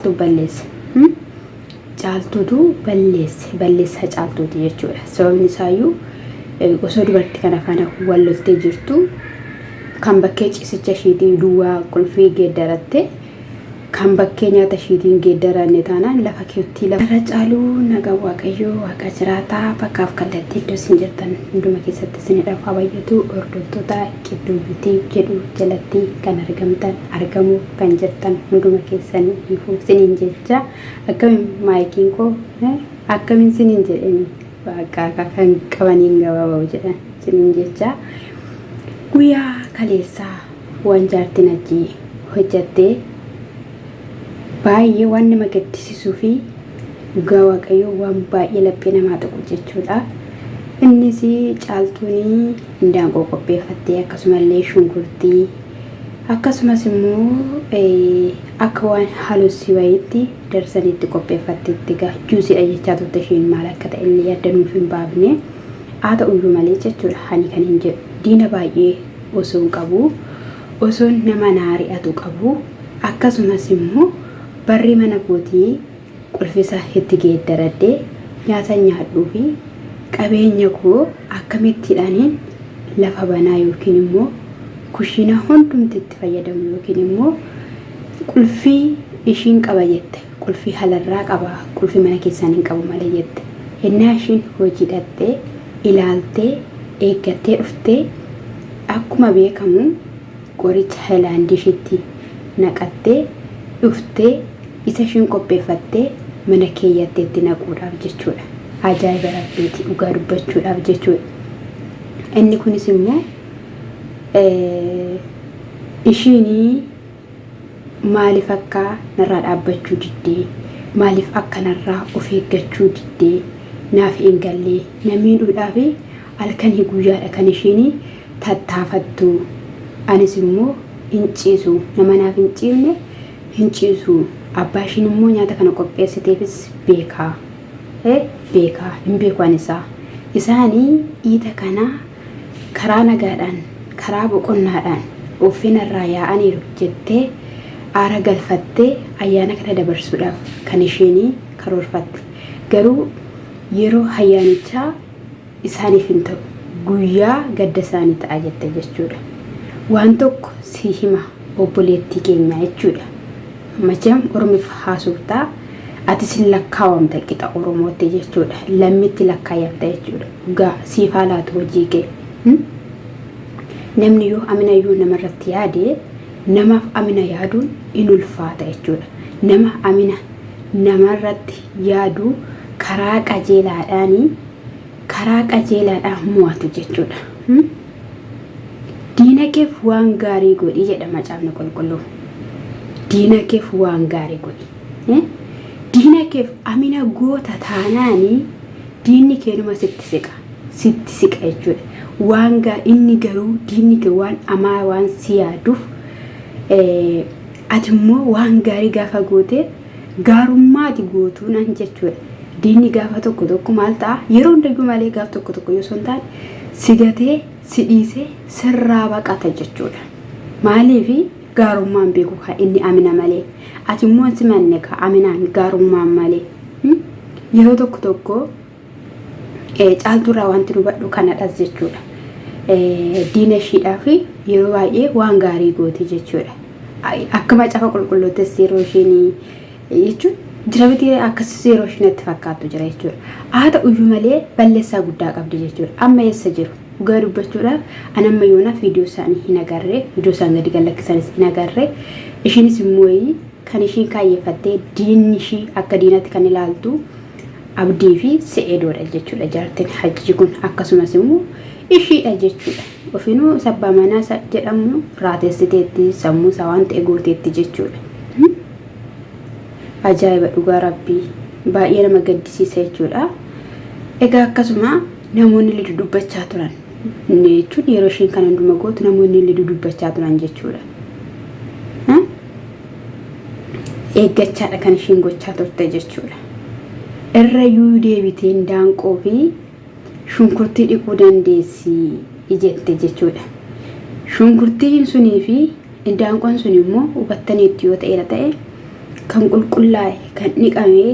Caaltuu balleesse. Hmm? Caaltuutu balleesse. Balleessaa caaltuuti jechuudha. Sababni isaayyuu eh, osoo dubartii kana faana wal loltee jirtu kan bakkee ciisicha ishiitiin duwwaa qulfii geeddaratte kan bakkee nyaata ishiitiin geeddaranne taanaan lafa keettii lafa. Irra caaluu nagaa waaqayyoo waaqa jiraataa bakkaaf kallattii iddoo isin jirtan hunduma keessatti isinidhaaf haa bayyatu hordoftoota qidduu yuutii jedhu jalatti kan argamtan argamu kan jirtan hunduma keessan ifu sinin jecha akkamin maayikiin koo akkamin sinin jedhani baaqaa kan qabaniin gabaaba'u jedhan sinin jecha guyyaa kaleessaa waan jaartiin hajjii hojjattee baay'ee waan nama gaddisisuu fi dhugaa waaqayyoo waan baay'ee laphee namaa tuqu jechuudha. Innis caaltuun indaanqoo qopheeffattee akkasumallee shunkurtii Akkasumas immoo akka waan halussii wayiitti darsanii itti qopheeffatteetti gaa juusiidha jechaa turte isheen maal akka ta'e illee adda nuuf hin baafne haa ta'uyyuu malee jechuudha ani kan hin jedhu diina baay'ee osoon qabu osoon nama naari'atu qabu akkasumas immoo barri mana kootii qulfisa itti geeddaradhe nyaatan nyaadhuu fi qabeenya koo akkamitti ani lafa banaa yookiin immoo kushiinaa hundumti itti fayyadamu yookiin immoo qulfii ishiin qaba jette qulfii halarraa qaba qulfii mana keessaan hin qabu malee jette hennaa ishiin hojii dhaxxee ilaaltee eeggattee dhuftee akkuma beekamu qoricha helaan dishitti naqattee dhuftee isa ishiin qopheeffattee mana keeyyatte itti naquudhaaf jechuudha. Ajaa'iba Rabbiiti dhugaa dubbachuudhaaf jechuudha. Inni kunis immoo ishiinii maaliif akka narraa dhaabbachuu diddee maaliif akka narraa of eeggachuu diddee naaf hin gallee na miidhuudhaaf Halkanii guyyaadha kan ishiin tattaafattu. Anis immoo hin ciisu. Nama naaf hin ciifne hin ciisu. Abbaa ishiin immoo nyaata kana qopheessiteefis beeka. E beeka. Hin beeku ani isaa. Isaani iita kana karaa nagaadhaan, karaa boqonnaadhaan uuffina irraa yaa'aniiru jettee aara galfattee ayyaana kana dabarsuudhaaf kan ishiin karoorfatte. Garuu yeroo hayyaanichaa. isaaniif hin ta'u. Guyyaa gadda isaanii ta'a jette jechuudha. Waan tokko sii hima obboleettii keenyaa jechuudha. Macheem Oromif haasoftaa atis hin lakkaawamta qixa Oromootti jechuudha. Lammitti lakkaayamta jechuudha. Dhugaa siif haa laatu hojii kee. Hmm? Namni yoo amina yoo namarratti yaade namaaf amina yaaduun in ulfaata jechuudha. Nama amina namarratti yaadu, karaa qajeelaadhaan karaa qajeelaadhaan mo'atu jechuudha. Diinakeef waan gaarii godhi jedha macaafni qulqulluu. Diinakeef waan gaarii godhi. Diinakeef amina goota taanaanii diinni keenuma sitti siqa. Sitti siqa jechuudha. Waan gaa inni garuu diinni kee waan amaa waan si yaaduuf ati immoo waan gaarii gaafa gootee gaarummaa ati gootuu nan jechuudha. Diinni gaafa tokko tokko maal ta'a? Yeroo hundayyuu malee gaaf tokko tokko yoo son taane si gatee si dhiisee sirraa baqata jechuudha. Maaliif gaarummaan beeku kaa inni amina malee ati immoo si manne kaa aminaan gaarummaan malee yeroo tokko tokko Caaltuurraa wanti hubadhu kanadhas jechuudha. Diina ishiidhaaf yeroo baay'ee waan gaarii gooti jechuudha. Akka macaafa qulqulluuttis yeroo ishiin jechuun jira miti akkasumas yeroo ishiin itti fakkaattu jira jechuudha. Haa ta'uyyuu malee balleessaa guddaa qabdi jechuudha. Amma eessa jiru? Dhugaa dubbachuudhaaf an amma yoonaa viidiyoo isaanii hin agarre viidiyoo isaan gadi gallakkisanis hin agarre ishiinis immoo kan ishiin kaayyeeffattee diinni ishii akka diinatti kan ilaaltu Abdii fi Se'eedoodha jechuudha jaartin hajjii kun akkasumas immoo ishiidha jechuudha. Ofinuu sabbaa manaa isa jedhamu raatessiteetti sammuu isaa waan ta'e gooteetti jechuudha. Ajaa'iba dhugaa rabbii baay'ee nama gaddisiisa jechuudha. Egaa akkasuma namoonni illee dudubbachaa turan jechuun yeroo isheen kana hunduma gootu namoonni illee dudubbachaa turan jechuudha. eeggachaadha kan ishiin gochaa turte jechuudha. Irra yuu deebiteen daanqoo fi shunkurtii dhiquu dandeessi jette jechuudha. Shunkurtiin sunii fi daanqoon sun immoo hubattaniitti yoo ta'eera ta'e kan qulqullaa'e kan dhiqamee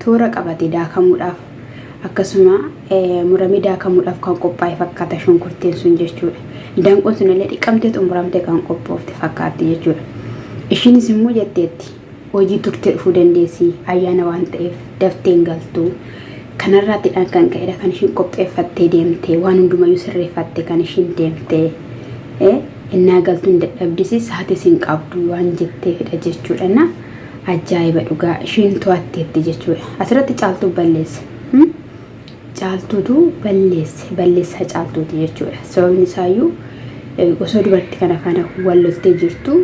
Toora qabate daakamuudhaaf akkasuma muramee daakamuudhaaf kan qophaa'e fakkaata shunkurtiin sun jechuudha. Indaanqoon sun illee dhiqamtee xumuramtee kan qophoofte fakkaatti jechuudha. Ishiinis immoo jetteetti hojii turtee dhufuu dandeessi ayyaana waan ta'eef daftee hin galtu. Kanarraattiidhaan kan ka'edha kan ishiin qopheeffattee deemte waan hundumayyuu sirreeffatte kan ishiin deemte. Innaa galtuun dadhabdisi saatis hin qabdu waan jetteefidha jechuudha. Ajaa'iba dhugaa isheen to'atteetti jechuudha. Asirratti caaltuu balleesse. Hmm? Caaltuutu balleesse. Balleessaa caaltuuti jechuudha. Sababni isaayyuu eh, osoo dubartii kana faana wal loltee jirtu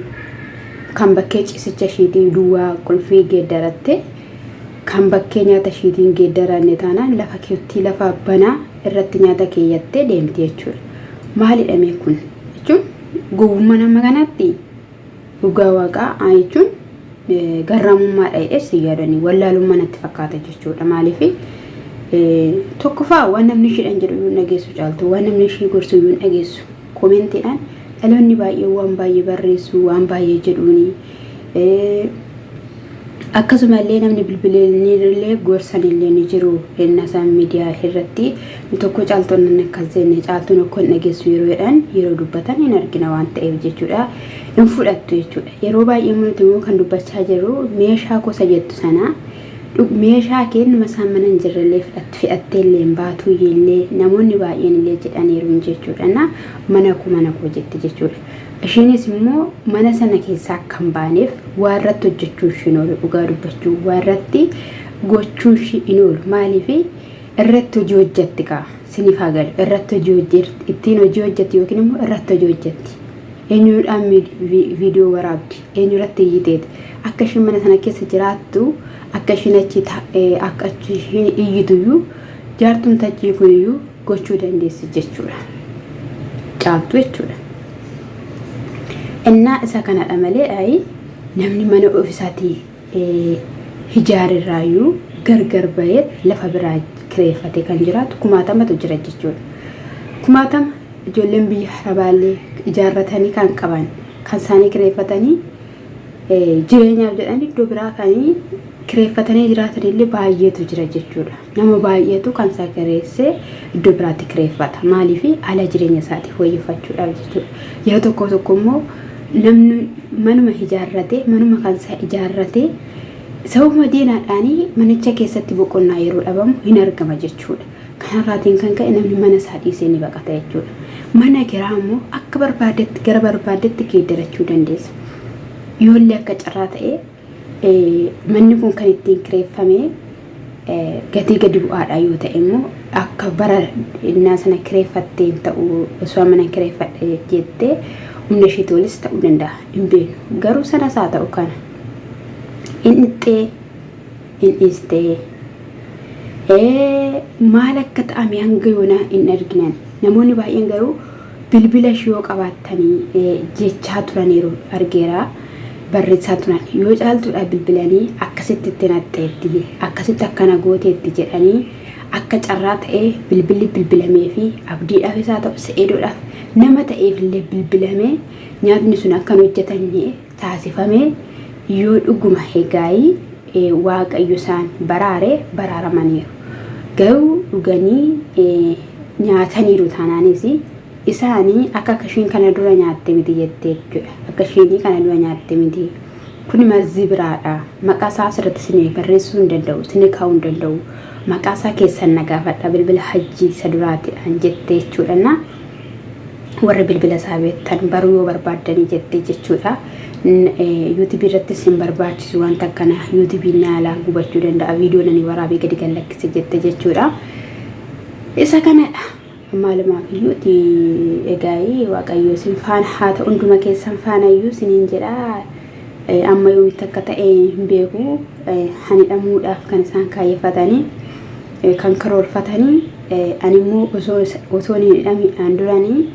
kan bakkee ciisicha ishiitii duwwaa qulfii geeddaratte kan bakkee nyaata ishiitiin geeddaranne taanaan lafa keettii lafa banaa irratti nyaata keeyyattee deemti jechuudha. Maalidha mee kun? Jechuun gowwummaa nama kanaatti Dhugaa waaqaa aa jechuun garraamummaa dha jedhee si yaadanii wallaalummaa natti fakkaata jechuudha maaliif tokkoffaa waan namni ishiidhaan jedhu yuun dhageessu caaltu waan namni ishii gorsu yuun dhageessu koomentiidhaan dhaloonni baay'ee waan baay'ee barreessu waan baay'ee jedhuuni Akkasuma illee namni bilbilinillee gorsan illee ni jiru hennaa isaan midiyaa irratti nu tokko caaltuun nan akkas jenne caaltuun okkoo hin dhageessu yeroo jedhan yeroo dubbatan hin argina waan ta'eef jechuudha hin fudhattu jechuudha yeroo baay'ee immoo nuti immoo kan dubbachaa jirru meeshaa gosa jettu sana dhug- meeshaa keennuma isaan mana hin jirrellee fudhat- fidhattee illee hin baatuu illee namoonni baay'een illee jedhaniiru jechuudha na mana koo mana koo jette jechuudha. Ishiinis immoo mana sana keessaa akka hin baaneef waa irratti hojjechuu ishii hin oolu dhugaa dubbachuu waa irratti gochuu ishii hin oolu maaliif irratti hojii hojjetti kaa siniif haa galu irratti hojii hojjetti ittiin hojii hojjetti yookiin immoo irratti hojii hojjetti eenyuudhaan viidiyoo waraabdi eenyurratti iyyiteeti akka ishiin mana sana keessa jiraattu akka ishiin achi akka achi ishiin iyyituyyuu jaartumtachii kuniyyuu gochuu dandeessi jechuudha. Caaltuu jechuudha. Innaa isa kanadha malee ayi namni mana ofisaati hijaarerraayyuu gargar bahee lafa biraa kireeffate kan jiraatu kumaatamatu jira jechuudha. Kumaatama ijoolleen biyya harabaallee ijaarratanii kan qaban kan isaanii kireeffatanii jireenyaaf jedhan iddoo biraa kan kireeffatanii jiraatanillee baay'eetu jira jechuudha. Nama baay'eetu kan isaa kireessee iddoo biraatti kireeffata. Maaliif ala jireenya isaatiif wayyeeffachuudhaaf jechuudha. Yeroo tokko tokko immoo namni manuma ijaarratee manuma kan isaa ijaarratee sababuma diinaadhaanii manicha keessatti boqonnaa yeroo dhabamu hin argama jechuudha. Kanarraatiin kan ka'e namni mana isaa dhiisee ni baqata jechuudha. Mana kiraa immoo akka barbaadetti gara barbaadetti geeddarachuu dandeessa. Yoollee akka carraa ta'ee Manni kun kan ittiin kireeffame gatii gadi bu'aadhaa yoo ta'e immoo akka bara innaa sana kireeffatteen ta'u osoo mana kireeffadhe jettee humna isheetii olis ta'uu danda'a hin beeknu. Garuu sanas haa ta'u kana hin dhixxee hin dhiistee maal akka ta'ame hanga yoonaa hin arginan namoonni baay'een garuu bilbila ishii yoo qabaattani jechaa turaniiru argeera barreessaa turan yoo caaltuudhaaf bilbilanii akkasitti itti naqxeetti akkasitti akkana gooteetti jedhanii akka carraa ta'ee bilbilli bilbilamee fi abdiidhaaf isaa ta'u se'eedoodhaaf nama ta'eef illee bilbilamee nyaatni sun akka hin hojjetanne taasifame yoo dhuguma Hegaayi Waaqayyo isaan baraare baraaramaniiru. Garuu dhuganii nyaataniiru taanaanis isaani akka akka ishiin kana dura nyaatte miti jettee jechuudha. Akka ishiinii kana dura nyaatte miti. Kuni marzii biraadha. Maqaa isaa asirratti isin barreessuu hin danda'u, isin kaa'uu hin danda'u. Maqaa isaa keessan na gaafadha bilbila hajjii isa duraatiidhaan jettee jechuudha. warra bilbila isaa beektan baruu yoo barbaaddanii jettee jechuudha. Yuutubii irrattis hin barbaachisu wanta akkana yuutubiin naalaa gubachuu danda'a viidiyoo nani waraabee gadi kan lakkise jette jechuudha. Isa kanadha. Maalumaaf iyyuu egaa waaqayyoo sin faana haa ta'u hunduma keessan faana iyyuu siniin jedhaa. Amma yoomitti akka ta'e hin beeku. An hidhamuudhaaf kan isaan kaayyeffatanii kan karoorfatanii an immoo osoo hin hidhamiidhaan duranii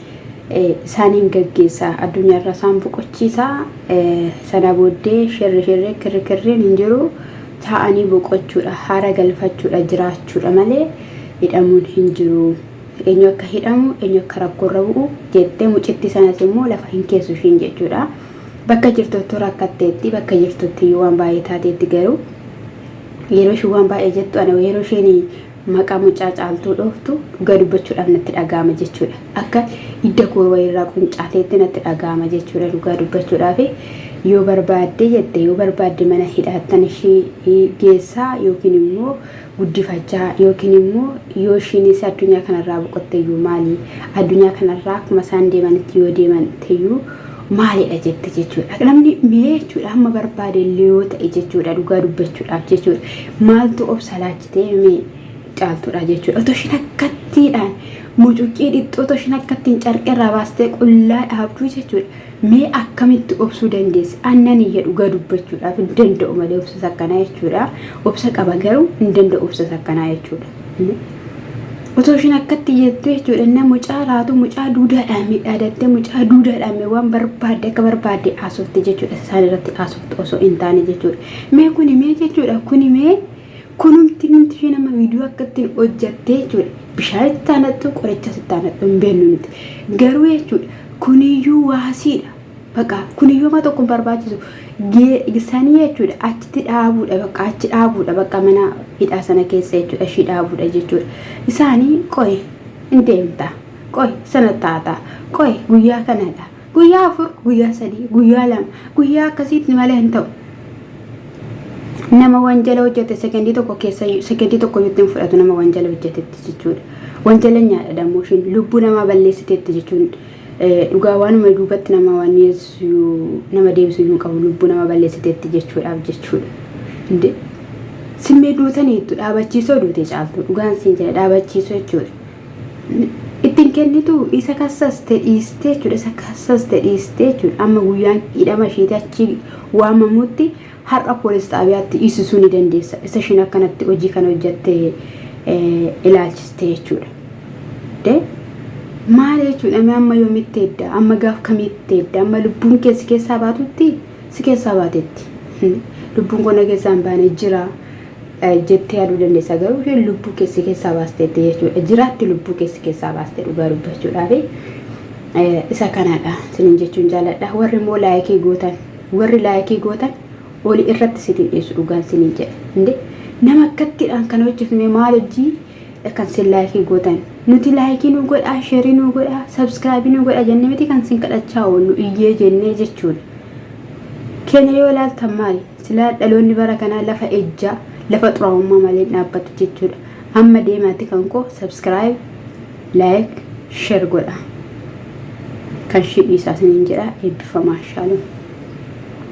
isaaniin gaggeessa addunyaa irraa isaan boqochiisa sana booddee shirri shirri kirri kirriin hin jiru taa'anii boqochuudha haara galfachuudha jiraachuudha malee hidhamuun hin jiru eenyu akka hidhamu eenyu akka rakkoorra bu'u jettee mucittii sanas immoo lafa hin keessu ishiin jechuudha. Bakka jirtuttuu rakkatteetti, bakka jirtuttiyyuu waan baay'ee taateetti garuu yeroo isheen waan baay'ee jettu ana yeroo isheen maqaa mucaa caaltuu dhooftu dhugaa dubbachuudhaaf natti dhaga'ama jechuudha. Akka hidda koo wayirraa quncaateetti natti dhaga'ama jechuudha dhugaa dubbachuudhaaf. Yoo barbaadde jette yoo barbaadde mana hidhaattan ishee geessaa yookiin immoo guddifachaa yookiin immoo yoo ishiinis addunyaa kanarraa boqotteyyuu maali addunyaa kanarraa akkuma isaan deemanitti yoo deeman ta'eyyuu maalidha jette jechuudha. Namni mee jechuudha amma barbaade illee yoo ta'e jechuudha dhugaa dubbachuudhaaf jechuudha maaltu obsa laachitee mee caaltuudha jechuudha. Otoo ishiin akkattiidhaan mucuqqii dhiqxuu otoo ishiin akkattiin carqirraa baastee qullaa dhaabduu jechuudha. Mee akkamitti obsuu dandeessi? An nan iyya dhugaa dubbachuudhaaf hin danda'u malee obsas akkanaa jechuudha. Obsa qaba garuu hin danda'u obsas akkanaa jechuudha. Otoo ishiin akkatti iyyattu jechuudha na mucaa raatu mucaa duudaadhaan midhaadattee mucaa duudaadhaan mee waan barbaadde akka barbaadde haasofte jechuudha isaan irratti haasofte osoo hin taane jechuudha. Mee kuni mee jechuudha kuni mee Kunumti namti ishee nama viidiyoo akka ittiin hojjattee jechuudha. Bishaan itti aanattu qorichas itti aanattu hin beeknu nuti. Garuu jechuudha kuniyyuu waasiidha. Baqa kuniyyuu amma tokko hin barbaachisu. Sanii jechuudha achitti dhaabuudha baqa achi dhaabuudha baqa mana hidhaa sana keessa jechuudha ishii dhaabuudha jechuudha. Isaanii qoy hin deemta. Qoy sana taata. Qoy guyyaa kanadha. Guyyaa afur, guyyaa sadii, guyyaa lama, guyyaa akkasiitti malee hin ta'u. Nama wanjala hojjete sekendii tokko keessa sekendii tokko iyyuu hin fudhatu nama wanjala hojjetetti jechuudha. Wanjala nyaadha dammoo ishiin lubbuu namaa balleessiteetti jechuun dhugaa waanuma duubatti nama waan nama deebisu iyyuu hin qabu lubbuu nama balleessiteetti jechuudhaaf jechuudha. Inde simmee duutaniittu dhaabachiisoo duute caaltu dhugaan siin jedha dhaabachiisoo jechuudha. ittiin kennitu isa kassaste dhiiste jechuudha isa kassaste dhiiste jechuudha amma guyyaan hidhama isheeti achi waamamutti har'a poolis xaabiyaatti dhiisisuu ni dandeessa isa ishiin akkanatti hojii kana hojjatte ilaalchiste jechuudha. Maal jechuudha mee amma yoomitti edda amma gaaf kamitti edda amma lubbuun kee si keessaa baatutti si keessaa baatetti lubbuun koo na keessaa hin baane jira jettee yaaduu dandeessa garuu isheen lubbuu kee si keessaa baasteetti jechuudha jiraatti lubbuu kee si keessaa baaste dhugaa dubbachuudhaaf isa kanadha sinin jechuun jaaladha warri immoo laayikii gootan warri laayikii gootan oli irratti sitii dhiisu dhugaan sinin jedha inde nama akkattidhaan kan hojjifne maal hojjii kan sin laayikii gootan nuti laayikii nu godhaa sheerii nu godhaa sabskraabii nu godhaa jennee miti kan sin kadhachaa oollu iyyee jennee jechuudha keenya yoo ilaaltan maali Silaa dhaloonni bara kanaa lafa ejjaa, lafa xuraa'ummaa malee hin dhaabbatu jechuudha. Amma deemaati kan koo subscribe, like, share godha. Kan shidhiisaa sinin jedha eebbifamaa shaalom.